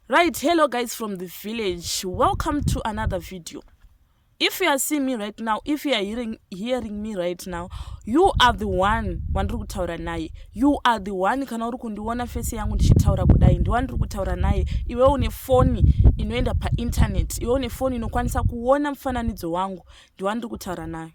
right hello guys from the village welcome to another video if you are seeing me right now if you are hearing, hearing me right now you are the one wandiri kutaura naye you are the one kana uri kundiona fesi yangu ndichitaura kudai ndiwa ndiri kutaura naye iwe une foni inoenda painternet iwe une foni inokwanisa kuona mufananidzo wangu ndiwa ndiri kutaura naye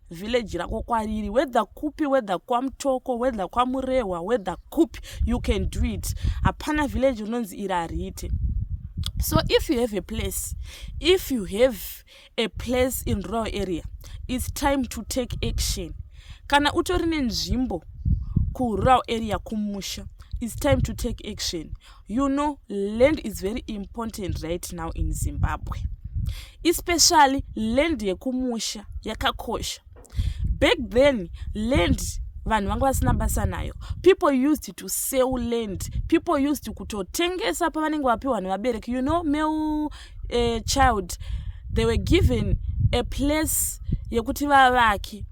village rako kwariri whether kupi whether kwamutoko whether kwamurehwa whether kupi you can do it hapana village rinonzi iri hariite so if you have a place if you have a place in rural area its time to take action kana utori nenzvimbo kurural area kumusha its time to take action you know land is very important right now in zimbabwe especially land yekumusha yakakosha back then land vanhu vanga vasina basa nayo people used to sell land people used kutotengesa pavanenge vapiwa nevabereki you know male uh, eh, child they were given a place yekuti vavake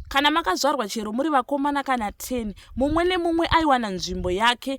kana makazvarwa chero muri vakomana kana 10 mumwe nemumwe aiwana nzvimbo yake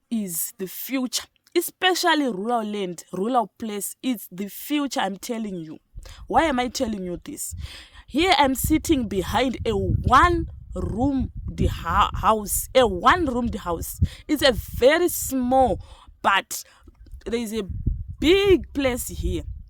is the future especially rural land rural place its the future im telling you why am i telling you this here im sitting behind a one room the house a one room the house its a very small but there is a big place here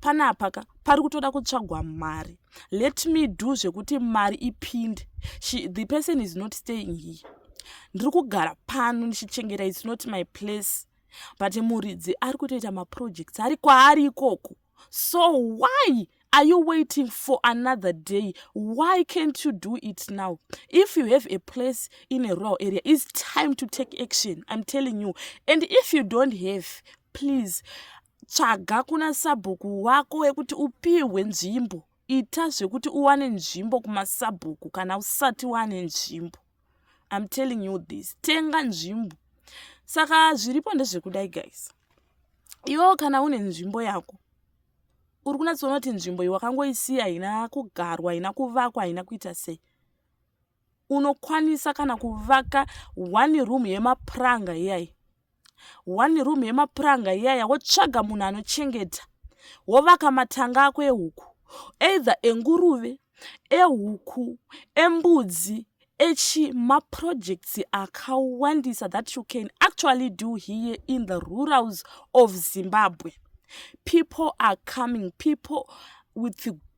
panapa ka pari kutoda kutsvagwa mari let me do zvekuti mari ipinde She, the person is not staying here ndiri kugara pano ndichichengeta its not my place but muridzi ari kutoita maprojects ari kwaari ikoko so why are you waiting for another day why can't you do it now if you have a place in a rural area its time to take action i'm telling you and if you don't have please tsvaga kuna sabhuku wako wekuti upihwe nzvimbo ita zvekuti uwane nzvimbo kumasabhuku kana usati wane nzvimbo im telling you this tenga nzvimbo saka zviripo ndezvekudai guys iwewo kana une nzvimbo yako uri kunatsoona kuti nzvimbo iyi wakangoisiya haina kugarwa haina kuvakwa haina kuita sei unokwanisa kana kuvaka one room yemapuranga iyayi one room yemapuranga iyaya wotsvaga munhu anochengeta wovaka matanga ako ehuku either enguruve ehuku embudzi echi maprojects akawandisa that you can actually do here in the rurals of zimbabwe people are coming people with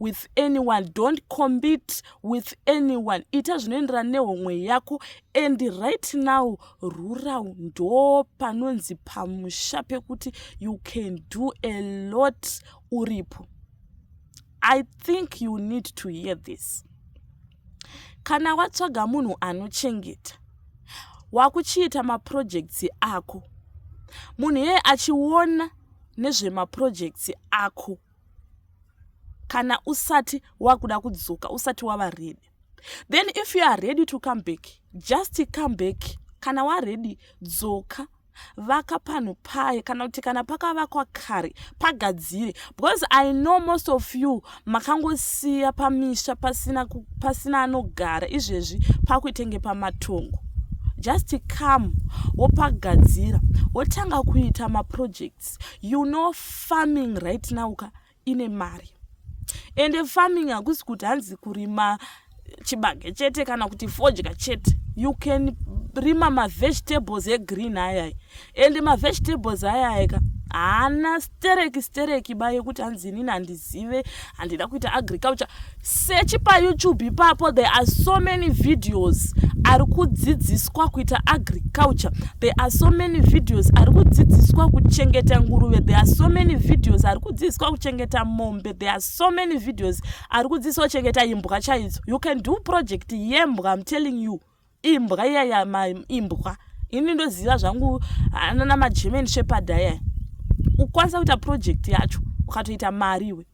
with anyone don't combit with anyone ita zvinoenderana nehomwe yako and right now rural ndo panonzi pamusha pekuti you can do a lot uripo i think you need to hear this kana watsvaga munhu anochengeta wakuchiita maprojects ako munhu iyeye achiona nezvemaprojects ako kana usati wakuda kudzoka usati wava ready then if you are ready to come back just come back kana waready dzoka vaka panhu paye kana kuti kana pakavakwa kare pagadzire because i know most of you makangosiya pamisha pasina, pasina anogara izvezvi pakuitenge pamatongo just come wopagadzira wotanga kuita maprojects yes you know farming right now ka ine mari ende farming hakusi kuti hanzi kurima chibage chete kana kuti fodya chete you can rima mavegetables egreen ayaya ende mavegetables ayaya ka haana stereki stereki ba yekuti hanzi inini handizive handida kuita agriculture search payoutube ipapo there are so many videos ari kudzidziswa kuita agriculture there are so many videos ari kudzidziswa kuchengeta nguruve there are so many videos ari kudzidziswa kuchengeta mombe there are so many videos ari kudzidziswa kuchengeta imbwa chaidzo you can do project yembwa im telling you imbwa iyaya ma imbwa ini ndoziva zvangu anana magerman shepherd ayaya ukwanisa kuita project yacho ukatoita mari iwe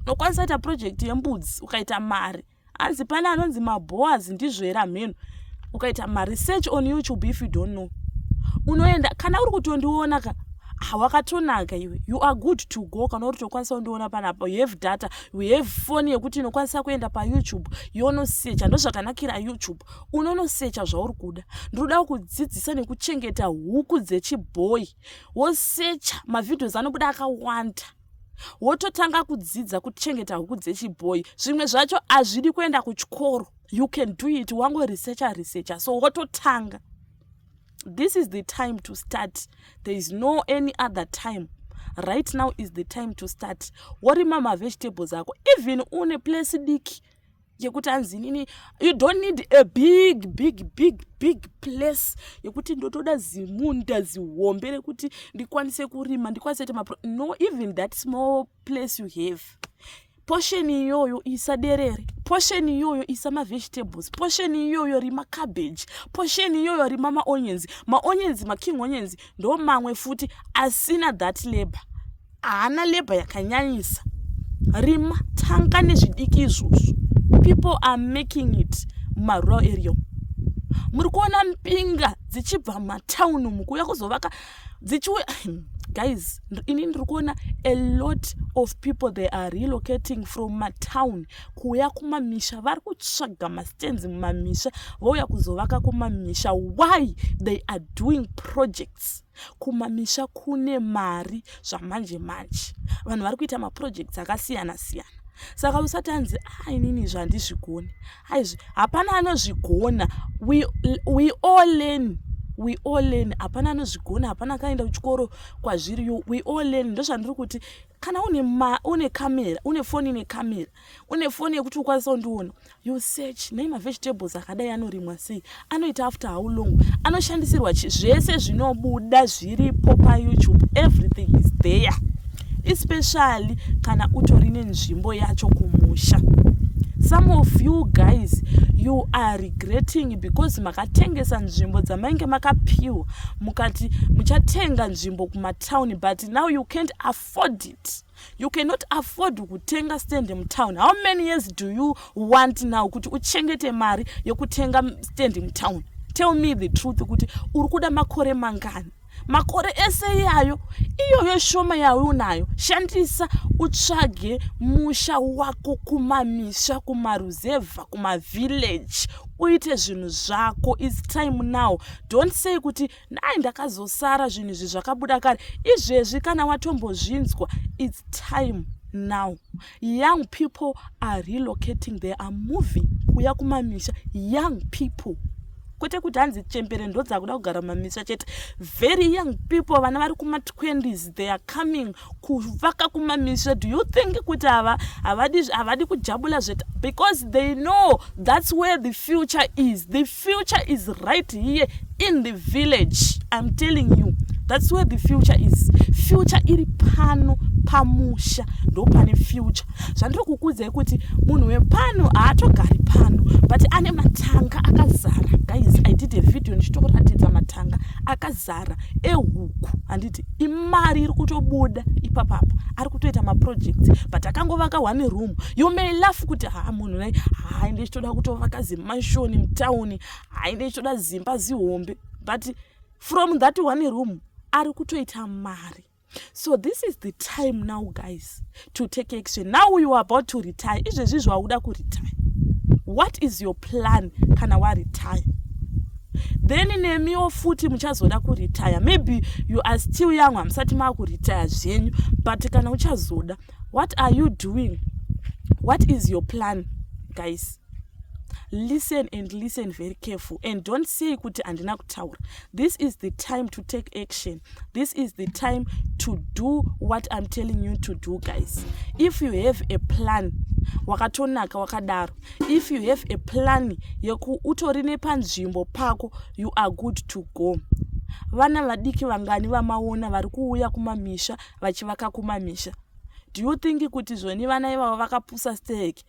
unokwanisa kuita project yembudzi ukaita mari hanzi pane anonzi maboas ndizvo here hamheno ukaita maresearch on youtube if you don't know unoenda kana uri kutondiona ka hawakatonaka iwe you are good to go kana uri tokwanisa kundiona panapa you have data we have foni yekuti inokwanisa kuenda payoutube yonosecha ndozvakanakira youtube unonosecha zvauri kuda ndinodawo kudzidzisa nekuchengeta huku dzechibhoyi wosecha mavhidhios anobuda akawanda wototanga kudzidza kuchengeta huku dzechibhoyi zvimwe zvacho hazvidi kuenda kuchikoro you can do it wangoresecha resecha so wototanga this is the time to start there is no any other time right now is the time to start worima mavegetables ako even une place diki yekuti anzi nini you don't need a big big big big place yekuti ndotoda zimunda zihombe rekuti ndikwanise kurima ndikwanise kuita mapro no even that small place you have portion iyoyo isa derere portion iyoyo isa mavegetables portion iyoyo rima cabbage portion iyoyo rima maonyens maonyens making onyens ndo mamwe futi asina that labor haana labor yakanyanyisa rima tanga nezvidiki izvozvo people are making it mumarural area muri kuona mbinga dzichibva mumatauni mukuuya kuzovaka dzichiwe guys ini ndiri kuona a lot of people they are relocating from matown kuuya kumamisha vari kutsvaga mastands mumamisha vouya kuzovaka kumamisha why they are doing projects kumamisha kune mari zvamanje manje vanhu vari kuita maprojects akasiyana siyana saka usati anzi a ah, inini zvandizvigoni aizvi hapana anozvigona we, we all learn we all learn hapana anozvigona hapana akaenda kuchikoro kwazviri yo we all learn ndozvandiri kuti kana une ma une camera une foni ine camera une foni yekuti ukwanisa kundiona you search nei mavegetables akadai anorimwa sei anoita after how long anoshandisirwa chi zvese zvinobuda zviripo payoutube everything is there especially kana utori nenzvimbo yacho kumusha some of you guys you are regretting because makatengesa nzvimbo dzamainge makapiwa mukati muchatenga nzvimbo kumatown but now you can't afford it you cannot afford kutenga stand mutown how many years do you want now kuti uchengete mari yekutenga stand mutown tell me the truth kuti uri kuda makore mangani makore ese iyayo iyoyo shoma yawe unayo shandisa utsvage musha wako kumamisha kumaruzevha kumavillage uite zvinhu zvako its time now don't say kuti nhai ndakazosara zvinhu izvi zvakabuda kare izvezvi kana watombozvinzwa its time now young people are relocating they are moving kuya kumamisha young people kwete kuti hanzi chembere ndodzakuda kugara mumamisha chete very young people vana vari kuma 20s they are coming kuvaka kumamisha do you think kuti ava havadi havadi kujabula zveta because they know that's where the future is the future is right here in the village i'm telling you that's where the future is future iri pano pamusha ndo pane future zvandiri kukudzai kuti munhu wepano haatogari pano but ane matanga akazara guys i did a video ndichitokuratidza matanga akazara ehuku handiti imari iri kutobuda ipapapa ari kutoita maprojects but akangovaka one room you may laugh kuti haa munhu nai haai ndichitoda kutovaka zimashoni mutown haai ndichitoda zimba zihombe but from that one room ari kutoita mari so this is the time now guys to take action now you are about to retire izvezvi zvauda kuretire what is your plan kana waretire then nemiwo futi muchazoda kuretire maybe you are still young hamusati maakuretire zvenyu but kana uchazoda what are you doing what is your plan guys listen and listen very careful and don't say kuti handina kutaura this is the time to take action this is the time to do what i'm telling you to do guys if you have a plan wakatonaka wakadaro if you have a plan yeku utori nepanzvimbo pako you are good to go vana vadiki vangani vamaona vari kuuya kumamisha vachivaka kumamisha do you think kuti zvoni vana ivavo vakapusa steke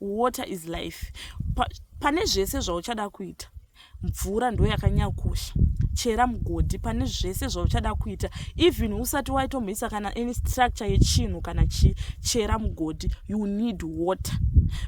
water is life pa, pane zvese zvauchada kuita mvura ndo yakanyakosha chera mugodhi pane zvese zvauchada kuita even usati waitomhisa kana any structure yechinhu kana chi chera mugodhi you need water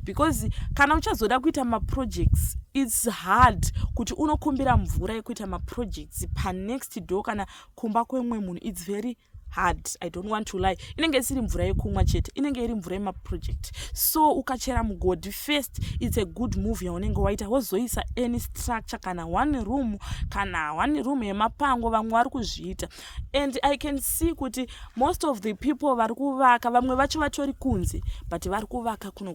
because kana uchazoda kuita maprojects its hard kuti unokumbira mvura yekuita maprojects panext door kana kumba kwemwe munhu its very hard i don't want to lie inenge isiri mvura yekumwa chete inenge iri mvura yemaproject so ukachera mugodhi first its a good move yaunenge waita wozoisa any structure kana one room kana one room yemapango vamwe vari kuzviita and i can see kuti most of the people vari kuvaka vamwe vacho vatori kunze but vari kuvaka kuno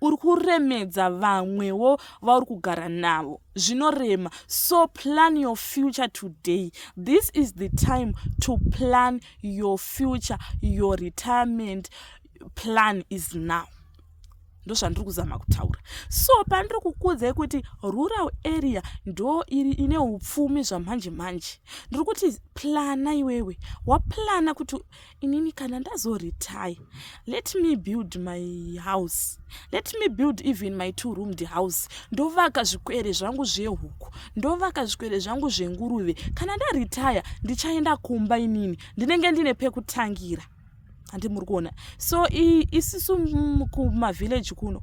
uri kuremedza vamwewo vauri kugara navo zvinorema so plan your future today this is the time to plan your future your retirement plan is now ndozvandiri kuzama kutaura so pandiri kukudzai kuti rural area ndo iri ine upfumi zvamanje manje ndiri kuti plana iwewe waplana kuti inini kana ndazoretire let me build my house let me build even my two roomed house ndovaka zvikwere zvangu zvehuku ndovaka zvikwere zvangu zvenguruve kana ndaretire ndichaenda kumba inini ndinenge ndine pekutangira handi muri kuona so isisu kumavillage kuno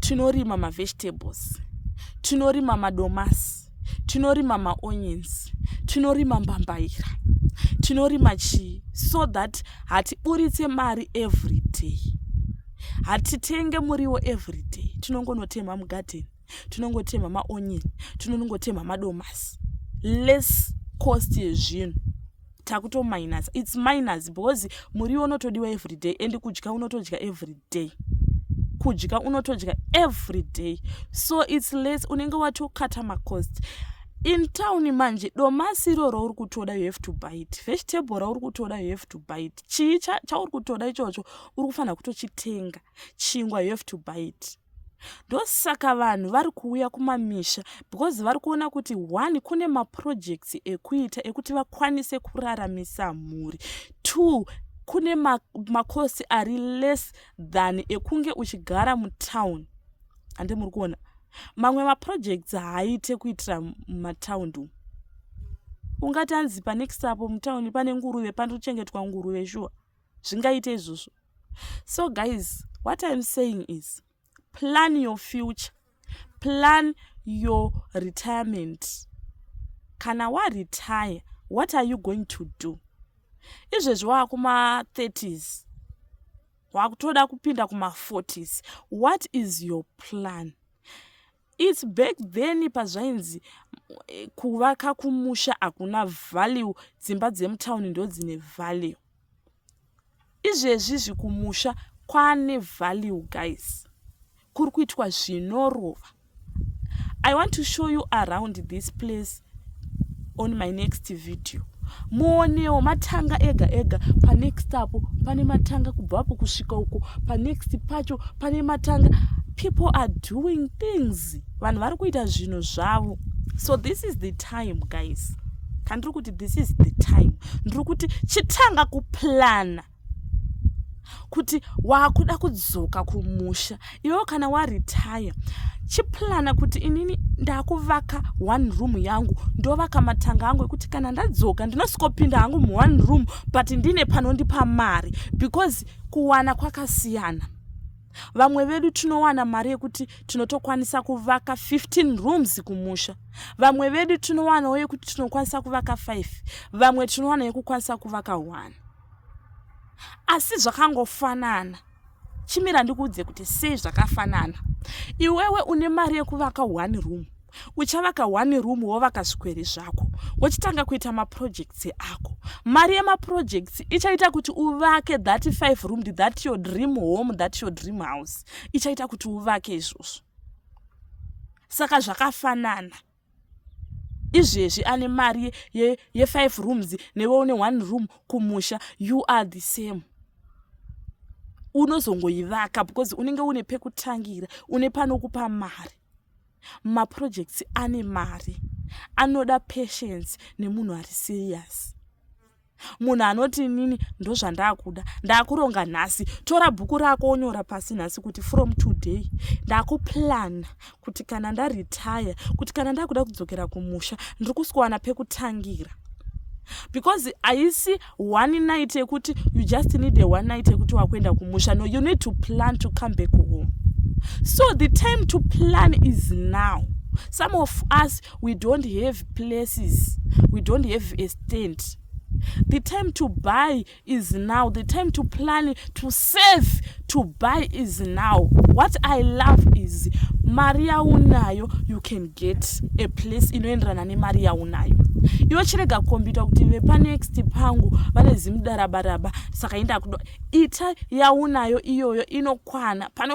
tinorima mavegetables tinorima madomasi tinorima maonions tinorima mbambaira tinorima chii so that hatiburitse mari every day hatitenge muriwo every day tinongonotema mugadheni tinongotemha maonion tinonongotemha madomasi less cost yezvinhu takutominus its minus because muriwo unotodiwa everyday and kudya unotodya everyday kudya unotodya everyday so its less unenge watokata macost in town manje domasi iro rauri kutoda you have to buy it vegetable rauri kutoda you have to buy it chii chauri kutoda ichocho uri kufanira kutochitenga chingwa you have to buy it ndosaka vanhu vari kuuya kumamisha because vari kuona kuti one kune maprojects ekuita ekuti vakwanise kuraramisa mhuri two kune makosi ma ari less than ekunge uchigara mutown hande muri kuona mamwe maprojects haaite kuitira mumatound umu ungati anzi panext apo mutown pane nguruve panochengetwa nguruve shuwa zvingaite izvozvo so guys what iam saying is plan your future plan your retirement kana waretire what are you going to do izvezvi waa kuma30s wakutoda kupinda kuma40s what is your plan It's back then pazvainzi eh, kuvaka kumusha hakuna value dzimba dzemutown ndodzine value izvezvi zvikumusha kwane value guys kuri kuitwa zvinorova i want to show you around this place on my next video muonewo matanga ega ega panext apo pane matanga kubvapo kusvika uko panext pacho pane matanga people are doing things vanhu vari kuita zvinhu zvavo so this is the time guys kandiri kuti this is the time ndiri kuti chitanga kuplana kuti wakuda kudzoka kumusha iwewo kana waretire chiplana kuti inini ndakuvaka one room yangu ndovaka matanga angu ekuti kana ndadzoka ndinosikopinda hangu muone room but ndine panondipa mari because kuwana kwakasiyana vamwe vedu tinowana mari yekuti tinotokwanisa kuvaka 15 rooms kumusha vamwe vedu tinowanawo yekuti tinokwanisa kuvaka 5 vamwe tinowana yekukwanisa kuvaka 1 asi zvakangofanana chimira ndikuudze kuti sei zvakafanana iwewe une mari yekuvaka one room uchavaka one room wovaka zvikwere zvako wochitanga kuita maprojects ako mari yemaprojects ichaita kuti uvake that five room that your dream home that your dream house ichaita kuti uvake izvozvo saka zvakafanana izvezvi ane mari yefive ye, ye rooms newe une one room kumusha you are the same unozongoivaka because unenge une pekutangira une panokupa mari maprojects ane mari anoda patience nemunhu ari serious munhu anoti inini ndozvandakuda ndakuronga nhasi tora bhuku rako onyora pasi nhasi kuti from today ndakuplana kuti kana ndaretire kuti kana ndakuda kudzokera kumusha ndiri kuswana pekutangira because haisi one night yekuti you just need a one night yekuti wakuenda kumusha no you need to plan to come back home so the time to plan is now some of us we don't have places we don't have a stand the time to buy is now the time to plan to save to buy is now what i love is mari yaunayo you can get a place inoenderana nemari yaunayo iwe chirega kukombita kuti vepanext pangu vane zimudarabaraba saka indakuda ita yaunayo iyoyo inokwana pane